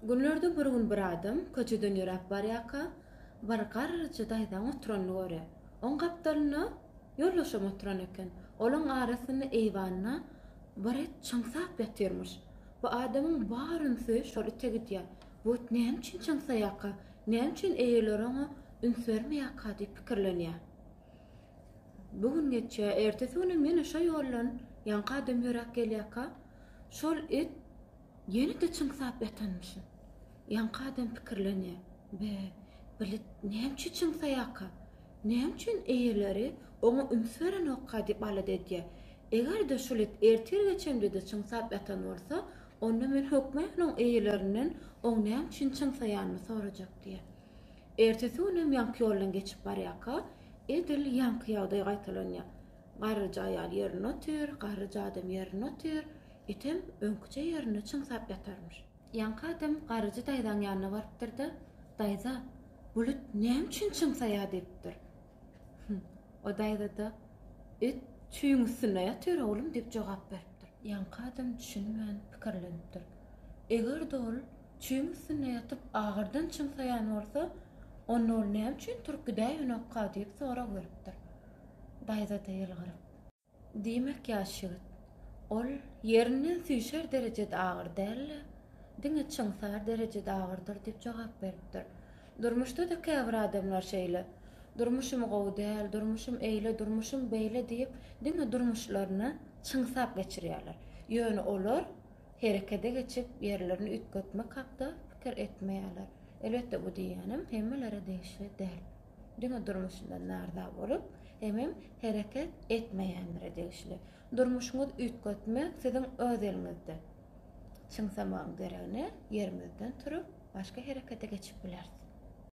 Günlerde bir gün bir adam köçeden ýöräp barýarka, bir garryja daýzanyň oturanyny görýär. Oň gapdalynda ýoldaşam oturan eken. Olaň arasynda eýwanda bir it çyňsap ýatyrmyş. Bu adamyň bar ünsi şol ite gidýär. Bu it näme üçin çyňsaýarka? Näme üçin eýeleri oňa üns bermeýärka diýip pikirlenýär. Bu gün geçýär. Ertesi günem ýene şo ýoldan ýaňky adam ýöräp gelýärka, şol it Ýene-de çyňsap ýatanmyşyn. Ýaňky adam pikirlenýär, Be, bilet näme üçin çyňsaýarka? Näme üçin eýeleri oňa üns berenokka diýip alada edýär. Eger-de şol it ertir-geç hemde-de çyňsap ýatan bolsa, onda men hökman onuň eýelerinden oň näme üçin çyňsaýanyny sorajak diýýär. Ertesi günem ýaňky ýoldan geçip barýarka, edil ýaňky ýagdaý gaýtalanýar. Garryja aýal ýerinde otyr, garryja adam ýerinde otyr, etem öňküçe ýerinde çyňsap ýatarmyş. Ýaňky adam garryja daýzaň ýanyna barypdyr-da, Daýza, bulut näme üçin çyňsaýar diýipdir. Hü, o daýza-da, It çüýüň üstünde ýatyr, oglum diýip jogap beripdir. Ýaňky adam düşünmän pikirlenipdir. Eger-de ol çüýüň üstünde ýatyp agyrdan çyňsaýan bolsa, onda ol näme üçin turup gidäýenokka diýip sorag beripdir. daýza-da ýylgyryp. Diýmek, ýaş ýigit, ol ýerinden süýşer derejede agyr däl-de, diňe çyňsar derejede agyrdyr diýip jogap beripdir. Durmuşda-da käbir adamlar şeýle. Durmuşym gowy däl, durmuşym eýle, durmuşym beýle diýip, diňe durmuşlaryny çyňsap geçirýärler. Ýöne olar herekede geçip, ýerlerini üýtgetmek hakda pikir etmeýärler. Elbetde, bu diýýänim hemmelere degişli däl. Diňe durmuşyndan naryza bolup, hemem hereket etmeýänlere degişli. Durmuşyňyzy üýtgetmek siziň öz eliňizde. Çyňsamagyň deregine ýerimizden turup, başga herekete geçip bileris.